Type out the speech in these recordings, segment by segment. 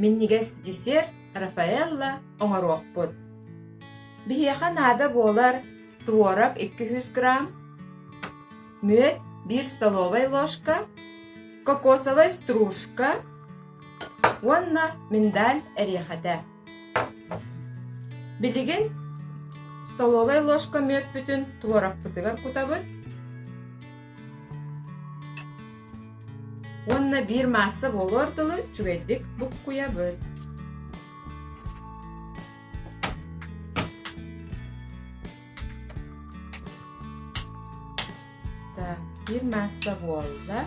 Минньигэс десерт Рафаэлло оҥоруохпут. Биһиэхэ наада буолар творог 200 грамм, мүөт 1 столовая ложка, кокосовая стружка уонна миндаль эриэхэтэ. Билигин столовая ложка мүөтпүтүн творогпутугар кутабыт. Уонна биир маасса буолуор дылы үчүгэйдик буккуйабыт. Так, биир маасса буолла.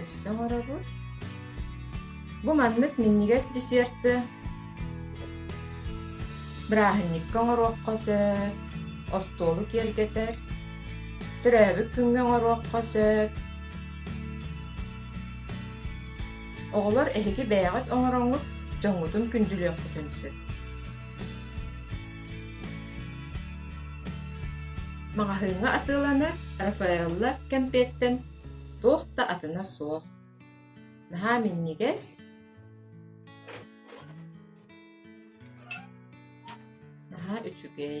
Өссө оҥоробут. Бу маннык минньигэс десерты бырааһынньыкка оҥоруохха сөп, остуолу киэргэтэр, төрөөбүт күҥҥэ оҥоруохха сөп. Оҕолор эһиги бэйэҕит оҥороҥҥут дьоҥҥутун күндүлүөххүтүн сөп. Маҕаһыыҥҥа атыыланар Рафаэлла кэмпиэттэн туох да атына суох. Наһаа минньигэс, наһаа үчүгэй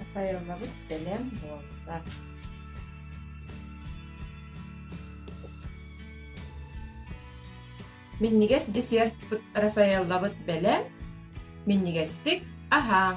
Михайловы бэлэм буолла Минньигэс десертпыт Рафаэллабыт бэлэм, минньигэстик аһааҥ!